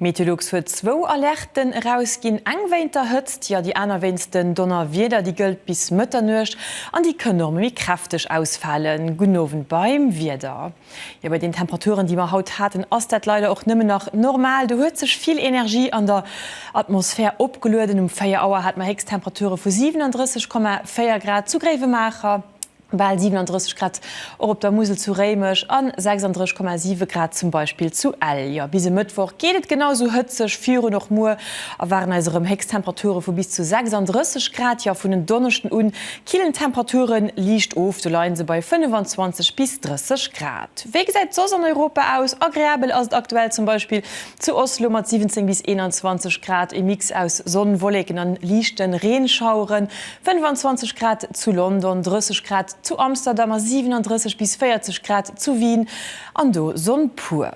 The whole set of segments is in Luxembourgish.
Meteolux huet zwou Alerten erausginn, eng wéint der Hëtzt, jo déi aner wéinst den Donnerwieder. Déi gëllt bis Mëtternuecht an déi kënn och méi kräfteg ausfalen. Gudden Owend beim Wieder. Jo, bei den Temperaturen, déi mer haut haten, ass dat leider och nëmmen nach normal. Do huet sech vill Energie an der Atmosphär opgelueden. Um 4 Auer hate mer Héchsttemperature vu 37,4 Grad zu Gréiwemaacher, bal 37 Grad och op der Musel zu Réimech a 36,7 Grad zum Beispill zu Ell. Jo, bis e Mëttwoch geet et genau esou hëtzeg virun. Och muer erwaarden eis erëm Héchsttemperature vu bis zu 36 Grad. Jo, vun en Donneschden u Killen Temperature liicht of, sou leien se bei 25 bis 30 Grad. Wéi gesäit et soss an Europa aus? Agreabel ass et aktuell zum Beispill zu Oslo mat 17 bis 21 Grad, e Mix aus Sonn, Wolleken an liichte Reenschaueren, 25 Grad zu London, 30 Grad zu Amsterdam a 37 bis 40 Grad zu Wien, an do Sonn pur.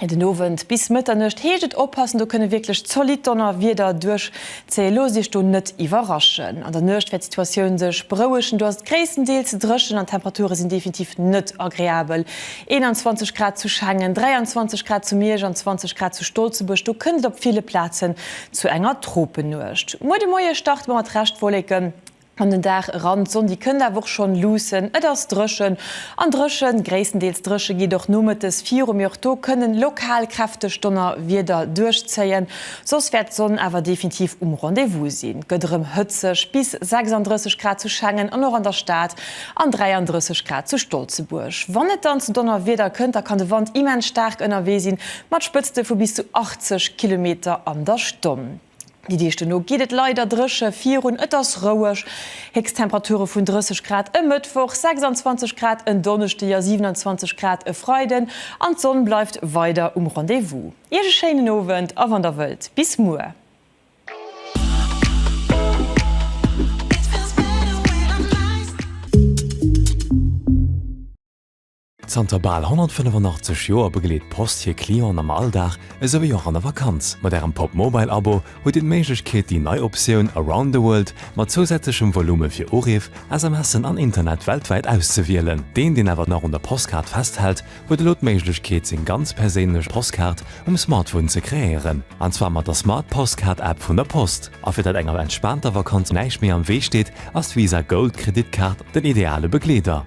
Den Owend bis Mëtternuecht heescht et oppassen, do kënne wierklech zolidd Donnerwieder duerchzéien. Looss Iech do net iwwerraschen. An der Nuecht wäert d'Situatioun sech berouegen, do ass et gréisstendeels dréchen an d'Temperature sinn definitiv net agreabel. 21 Grad zu Schengen, 23 Grad zu Miersch an 20 Grad zu Stolzebuerg, do kënnt et op ville Plazen zu enger Tropennuecht. Muer de Moie starte mer mat Reschtwolleken. An den Dag eran, d'Sonn déi kënnt awer och schonn luussen. Et ass dréchen an dréchen, gréisstendeels dréche geet och nomëttes viru, mee och do kënnen lokal kräfteg Donnerwieder duerchzéien. Soss wäert d'Sonn awer definitiv um Rendez-vous sinn. Gëtt erëm hëtzeg, bis 36 Grad zu Schengen an och an der Stad an 33 Grad zu Stolzebuerg. Wann et dann zu Donnerwieder kënnt, da kann de Wand immens staark ënnerwee sinn, mat Spëtzte vu bis zu 80 Kilometer an der Stonn. Déi Deeg duerno geet et leider dréche virun, et ass roueg. Héchsttemperature vun 30 Grad e Mëttwoch, 26 Grad en Donneschdeg a 27 Grad e Freiden an d'Sonn bleift weider um Rendez-vous. Iech e schéinen Owend a wann der wëllt, bis muer. Zanter bal 185 Joer begleet d'Post hir Clienten am Alldag esou wéi och an der Vakanz. Mat Ärem Pop Mobile Abo hutt Dir d'Méiglechkeet, déi nei Optioun Around the World mat zousätzlechem Volume fir Uriff, SMSen an Internet weltwäit auszewielen. Deen, deen awer nach un der Postkaart festhält, huet elo d'Méiglechkeet, seng ganz perséinlech Postkaart um Smartphone ze kreéieren. An zwar mat der Smart Postkaart App vun der Post. A fir datt enger entspaanter Vakanz näischt méi am Wee steet, ass d'Visa Gold Kreditkaart den ideale Begleeder.